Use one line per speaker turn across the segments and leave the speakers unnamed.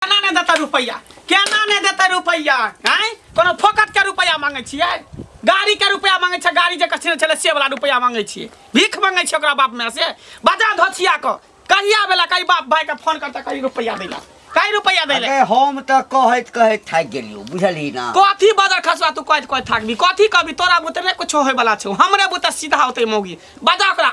केना नहि देतै रुपैआ केना नहि देतै रुपैआ आँय कोनो फोकटके रुपैआ मांगै छियै गाड़ीके रुपैआ मांगै छै गाड़ी जे कछिने छलै से वाला रुपैआ मांगै छियै भीख मांगै छियै ओकरा बाप माय से बजा धोछिया कऽ कहिया बेला कही बाप भायके फोन करतै कही रुपैआ दै लए कही रुपैआ दै लए अरे हम तऽ कहैत
कहैत थाकि गेलियो बुझली ना कथी बजर खसवा तू
कहत कहत थाकबी कथी कहबी तोरा बुते नहि कुछो होय वाला छौ हमरे बुते सीधा होते मौगी बजा ओकरा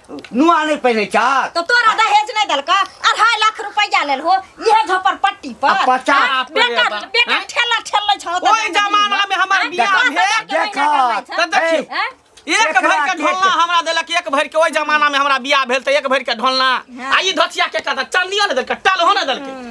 नुआ नहीं पहने चार तो तोरा दहेज
नहीं दल का अढ़ाई लाख रुपया लेल हो यह झपर पट्टी पर अब पचास हाँ, पे बेटा
बा। बेटा हाँ?
ठेला ठेल ले छौ ओहि जमाना में
हमर बियाह भेल देखा तब
देखी
एक देखला भरि के के ढोलना के- हमरा देलक एक भरि के ओहि जमाना में हमरा बियाह भेल तऽ एक भरि के ढोलना आ ई धथिया के कहता चल नियो ने देलक टल हो ने देलक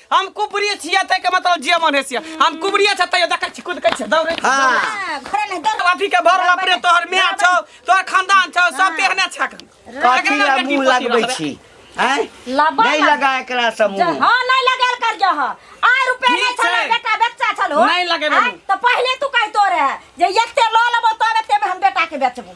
हम कुबरी छियै तै के मतलब जे मन है से हम कुबरी छै तैयो देखै छी कूद कै छै दौड़ै छी हाँ। हाँ, घरे
नहीं दौड़ अथी के भर लपरे तोहर
माय छौ तोहर खानदान छौ सब तेहने छक कथी ला मुंह
लगबै छी हैं लबा नहीं लग- लगा एकरा से जे- मुंह हाँ नहीं लगेल कर
जो हो आय रुपया ठीक नहीं छलो छै। बेटा बेचा छलो नहीं लगेबै आय, मुँह। तो
पहले तू
कहतो रहे जे एते लो लेबो तब एते में हम बेटा के बेचबो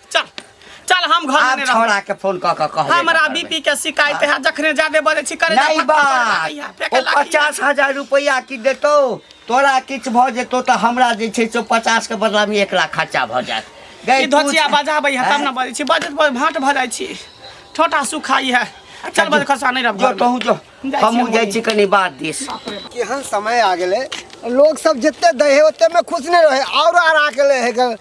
चल चल हम घर में आब नहीं रहब। छोड़ा के फोन कऽ कऽ कहबे
हमरा करबै। बीपी के
शिकायत है जखने जादे बजे छी करे नहीं बा
ओ पचास हजार रुपया की देतो तोरा किछ भऽ जेतो तऽ हमरा जे छै से पचास के बदला में एक लाख खर्चा भऽ जायत गै ई तू- धोचिया
बजाबै है तब हैं? ना बजे छी बजत बज भाट भऽ जाइ छी छोटा सुखाई है चल बजे खसा नहीं रहब जो घर में। तहूँ जो जाइ छी
हमहूँ हम जाइ छी कनि बात दिस केहन समय
आ गेलै लोग सब जते दै है ओते में खुश नहीं रहे और आरा के ले है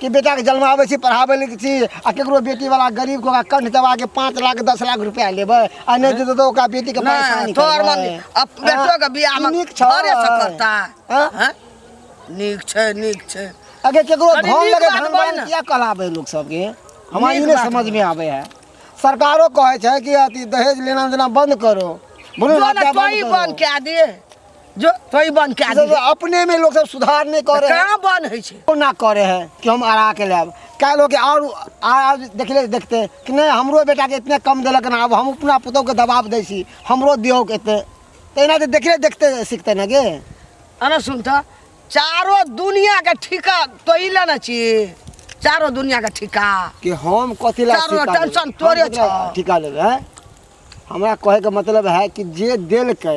कि बेटाके जन्माबै छी पढ़ाबै लए छी आ केकरो बेटीवला गरीबके ओकरा कंठ दबाके पाँच लाख दस लाख रुपैआ लेबै आ नहि देतै तऽ ओकरा बेटीके नहि परेशानी तोहर करबै। मम्मी
अब बेटो के बियाह में नीक छौ। घरे से करता हाँ? हैं? नीक छै नीक छै अगे केकरो कनी
धन नीक लगे बात धन बोल बान ने। किया कहलाबै लोक सबके हमरा ई नीक नहि बात समझ में आबै है सरकारो कहै छै कि अथी दहेज लेना देना बंद करो बोलू जो ना ना क्या तोही बंद बन करो के दे
जो कई बन के आदमी सब अपने में लोग सब
सुधार नहीं कर रहे हैं कहाँ बन है छे वो
ना करे है कि हम
अड़ा के लेब कई लोग के और आज देखले देखते हैं कि नहीं हमरो बेटा के इतने कम दिलक ना अब हम अपना पुतोह के दबाव दै छी हमरो दियो के इतने तहिना तो देखले देखते सीखते ना गे अरे सुन तो
चारो दुनिया के ठिका तो ही लेना चाहिए चारो दुनिया के ठिका कि हम
कथी ला चारो ठिका टेंशन लेब? तोरे हम
कथी ला छौ। ठिका लेब है
हमरा कहे के मतलब है कि जे दिल के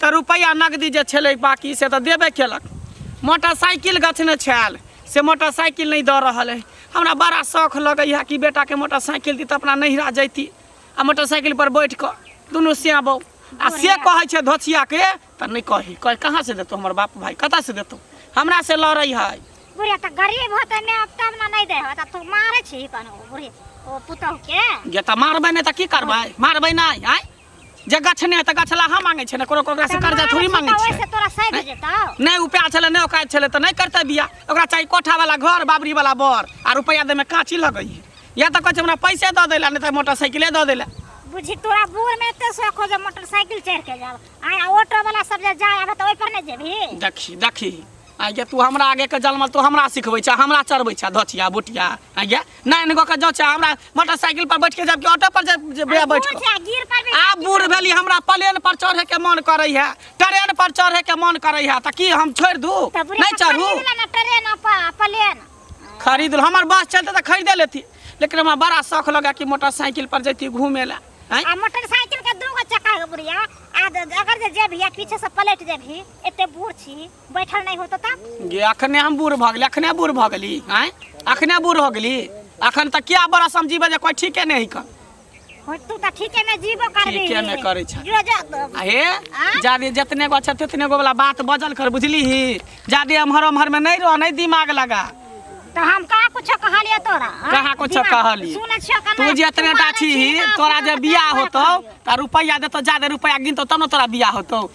तऽ रुपैआ नगदी जे छलै बाकी से तऽ देबे केलक मोटरसाइकिल गछने छल से मोटरसाइकिल नहि दऽ रहल अइ हमरा बड़ा शौख लगैए कि बेटाके मोटरसाइकिल दी तऽ अपना नैहरा जैती आ मोटरसाइकिलपर बैठ कऽ दुनू सियाँ बहू आ से कहै छै धोछियाके तऽ नहि कही कह कहाँ से देतौ हमर बाप भाय कतऽ से देतौ हमरा से लड़ै है बुढ़िया तऽ गरीब
होतै ने अब तब ने नहि दै होत तू मारै छी कन बुढ़ी ओ पुतहु के गे तऽ मारबै नहि
तऽ की करबै मारबै नहि आँय जे गछ नहि तऽ गछ लाहा मांगे छै ने कोनो ओकरा से कर्जा थोड़ी मांगे छै ओइसे तोरा सैध जेतौ
नहि उपाय छलै नहि औकात
छलै तऽ नहि करतै बिया ओकरा चाही कोठा वाला घर बाबरी वाला बर आ रुपैआ दै में काची लगै या तऽ कहै छै हमरा पैसे दऽ दै लए नहि तऽ मोटरसाइकिले दऽ दै लए बुझी तोरा
बूढ़ में एते शौक हो जे मोटरसाइकिल चढ़ के जाब आय ऑटो वाला सब जे जाय आबे तऽ ओइ पर नहीं जेबी देखी देखी आइ
गे तू हमरा आगे के जलमल तू हमरा सिखबै छह हमरा चढ़बै छह धचिया बोटिया आइ गे नहीं नहीं का जाँच हमरा मोटरसाइकिल पर बैठ के जबकि ऑटो पर जे- जे बे- बैठ के। गिर पड़बे आब
बूढ़ भेली हमरा
प्लेन पर चढ़े के मन करे है ट्रेन पर चढ़े के मन करे है त की हम छोड़ दू तब रे नहीं चढ़ू खरीद लेना ट्रेन अपा
प्लेन खरीद लो
हमर बस चलते त खरीदे लेती लेकिन हमरा बड़ा शौक लगा कि मोटरसाइकिल पर जैती घूमे ला हैं? आ मोटरसाइकिल
के दूगो चक्का के बुढ़िया आ द- अगर जे जेबही आ पीछे से पलट जेबही एते बूढ़ छी बैठल नहीं होतो तब गे अखने हम बूढ़ भऽ
गेली अखने बूढ़ भऽ गेली आँय अखने बूढ़ हो गेली अखन तऽ क्या बड़ा समझीबे जे कोइ ठीके नहि हिकन हो तू तऽ
ठीके में जीवो करबी ठीके में करै छै। जो
जो तब। आ हे आँय?
जादे
जतने गो छै ततने गो वाला बात बजल कर बुझली ही जादे एम्हर ओम्हर में नहीं रह नहीं दिमाग लगा तो हम
कहा कुछ कहलिए तोरा हाँ? कहाँ कुछो दिमाग- कहलिए?
सुनै छियो कना तू जे एतने मारै टाठी छी, ही ना तोरा जे सुनै बियाह छियो, होतौ तऽ रुपैआ देतौ जादे रुपैआ गिनतौ तब ने तोरा बियाह होतौ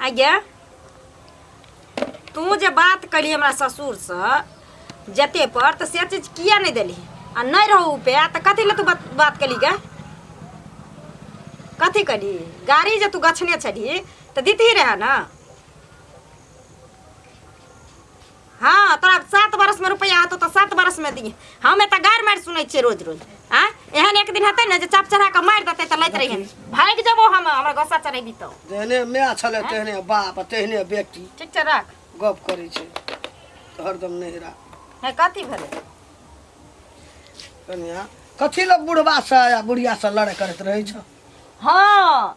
आ गे तू जे बात करी हमरा ससुरसँ जते पर तऽ से चीज किया नहि देली आ नहि रहू उपाय तऽ कथी लए तू बात बात कली गे कथी कली गाड़ी जे तू गछने छली तऽ दितही रहए ने हाँ तोरा सात बरस में रुपया हतो तो सात बरस में दिए हमें तो गार मार सुनै छियै रोज रोज आ एहन एक दिन हतै ने जे चाप चढ़ा के मार देतै तऽ लैत रहिए भाग जेबो हम हमरा गोसा चढ़ेबी तो तेहने माय छलै
तेहने बाप तेहने बेटी ठीक छै राख
गप करै छै
तऽ हरदम नहिरा है कथी
भेलै
कनिया कथी लए बुढ़बा से आ बुढ़िया से लड़ाइ करैत रहै छ हाँ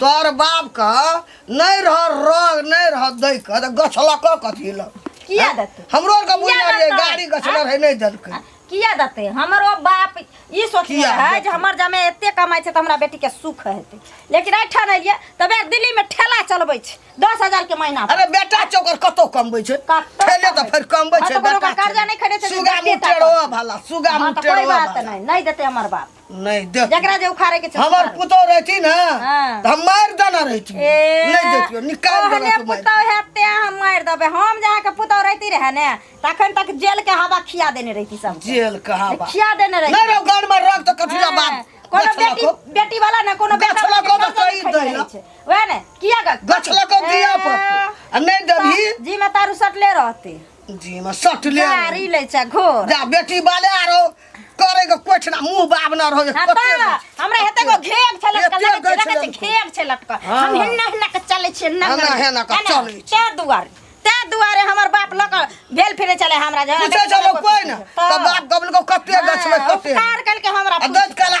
तोर बाप के नहीं रह रंग नहीं रह दे के तो गछलक कथी ल किया देते हमरो
आर के बुझा किया रे देतै?
गाड़ी गछलक है
नहीं
दल के किया देते
हमरो बाप ई सोचने किया है देतै? जे हमर जमे
एते
कमाई छै त हमरा बेटी के सुख हेतै लेकिन ऐठान एलियै तबे दिल्ली में ठेला चलबै छै दस हजार के महीना पर। अरे बेटा चोकर
कतो कमबै छै कतौ पहले तो कमबै। फिर
कमबै हाँ,
छै तो कोनो बेटा कर्जा नहीं
खरीदे छै,
सुगा
बेटा मुटेरो कमबै।
भला
सुगा हाँ,
तऽ कोई
मुटेरो
बात भला
नहीं नहीं
देते
हमर बाप नहीं देख जकरा
जे उखाड़े के छै हमर
उखाड़। पुतौ रहती ना
हाँ। त हम मार
देना
रहती ए, नहीं देतियो निकाल तोहरे देना तू मार पुतौह
है ते
हम मार
देबे हम जहाँ के पुतौह रहती रहे ने तखन तक जेल के हवा खिया देने रहती सब जेल कहाँ बा खिया
देने रहती नहीं रहो गाड़
में रख तो
कथी ला बाप कोनो गछ बेटी लको
बेटी
वाला ना
कोनो
बेटा
गछ वाला लको के तो कहीं खरीद
दैला।
रहै
छै।
वैह
ने
किया ग गछ लको दिया
पर आ नहीं देबही जी में तारू सटले
रहते जी में सट
ले गाड़ी ले छै घोर
जा बेटी बाले
आरो करे के कोठ ना मुंह बाब ना रहे हाँ कते ना। तो हमरा
हेते को घेग छलक एते कल गै जगह से छलक। घेग
छलक
कल। हाँ। हम हिन्ना हिन्ना के
चले
छिए ना हाँ, ना, हिन्ना के
चलै छी। ते दुआरे ते दुआरे
हमर बाप लक भेल फिरे चले हमरा जगह पूछे जब कोई ना
तो बाप गबल को कते गछ में कते उपकार कल के हमरा आ
दस कला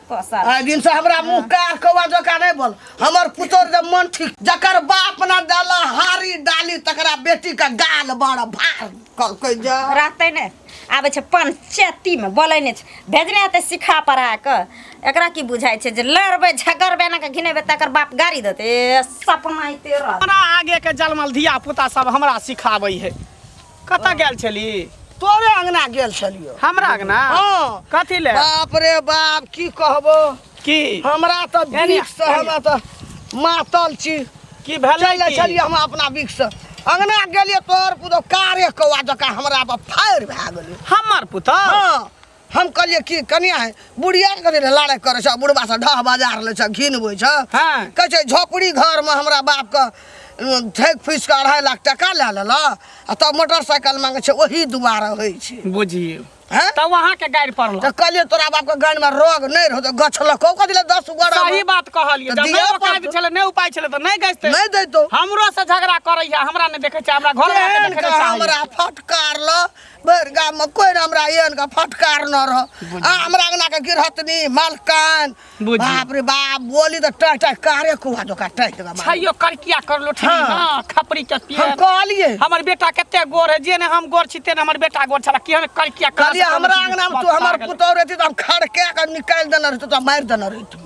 साल आइ दिन
से हमरा
मुंह कार कौआ जका नहीं बोल हमर पुतोर जब मन ठीक जकर बाप ना डाला हारी डाली तकरा बेटी का गाल बड़ भार कल कह जा रहतै ने
आबै छै पंचायतीमे बोलै नहि छै भेजने हेतै सिखा पढ़ा कऽ एकरा की बुझाइ छै जे लड़बै झगड़बै एना कऽ घिनेबै तकर बाप गाड़ी देतै ए, सपना अइते रहत हमरा आगे के जलमल
धिया पुता सब हमरा सिखाबै है कतऽ गेल छली तोरे अंगना
गेल छलियो हमरा अंगना हाँ।
कथी ले
बाप
रे बाप
की कहबो की हमरा
तो एने,
बिख से एने। हमरा तो मातल छी की भेलै चल
की? छलिए हम अपना बिख
से अंगना गेलिए तोर पुतो कारे कौआ जका हमरा पर फायर भए गेलै हमर पुतह हाँ
हम
कहलिए कि कनिया है बुढ़िया कथी ले लड़ाई करे छ बुढ़बा से ढह बाजार ले छ घिनबै छ हाँ। कहै छै
झोपड़ी
घर में हमरा बाप के ठेक फीस के अढ़ाई लाख टका ले लेला आ तब मोटरसाइकिल मांगे छै ओही दुआरे होइ छै बुझिए हैं
तब वहाँ के
गाड़ि पड़ल
तो कहलिए तोरा बाप के
गाड़ी में रोग नहीं रहो तो गछलको कथी ले दस गोड़ा सही बात कहलिए तऽ
जब दिअ नहि औकात पड़तौ।
छलै
नहि उपाय छलै तऽ
नहि
गइतै नहीं देतो हमरो
से झगड़ा
करैया हमरा नहि देखै छै हमरा घर वाला के एहन देखै के लए चाहैया हमरा
फटकार ल भरि गाममे कोइ ने हमरा एहन के फटकार न रह आ हमरा अंगना के गिरहतनी मलकान बुझियौ। बाप रे
बाप
बोली तऽ टह टह कारे कुहा दोका टह देगा छैयो करकिया कर लो
ठीक हाँ। ना खपरी के
हम
पिए कहलिए हमर बेटा
कते
गोर है जे ने हम गोर छी ते ने हमर बेटा गोर छला केहन करकिया कर कहलिए हमरा अंगना में तू
हमर पुतौह रहती तऽ हम खड़के के निकालि देने रहती तऽ मारि देने रहती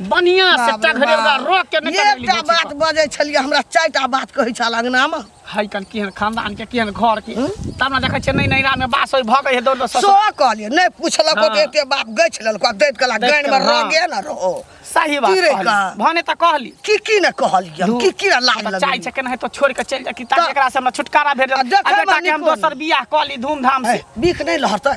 बढ़िया से बाप रे टघरे ओकरा बाप। रोक के निकल गेली एकटा बुच्ची बात पर। बजै
छलियै हमरा चारिटा बात कहै छल अंगनामे है कन केहन
खानदान के केहन घर के तब ने देखै छियै नै नैरा में बास होय भगै है दौड़ दौड़ ससुर। सो कहलियै नहि
पुछलक हँ। ओते एते बाप गछि
लेलक
आ दैत कहला दैत गानिमे कहला, रंगे ने
रहो
सही बात की रे कहली।
का? भने तऽ
कहली की
की ने कहलियै
हम, की की ने लाज बच्चा लगलै छै केना है तो
छोड़ के
चल
जा कि ताकि तऽ- एकरा से हमरा छुटकारा भेट आ जाए आ देखै बेटा मे के हम निको दोसर
बियाह
कऽ ली धूमधाम से बीख नहि लहरतै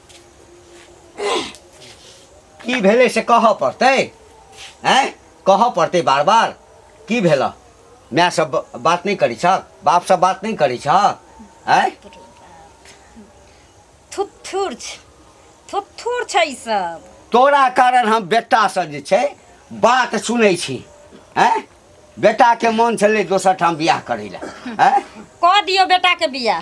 की भेलै से कहऽ पड़तै आँय कहऽ पड़तै बार बार की भेलऽ माय सब बात नहि करै छह बाप सब बात नहि करै छह आँय
थुथुर छै थुथुर छै ई सब तोरा कारण
हम बेटासँ जे छै बात सुनै छी आँय बेटाके मोन छलै दोसर ठाम बियाह करै लए आँय कऽ दियौ
बेटाके बियाह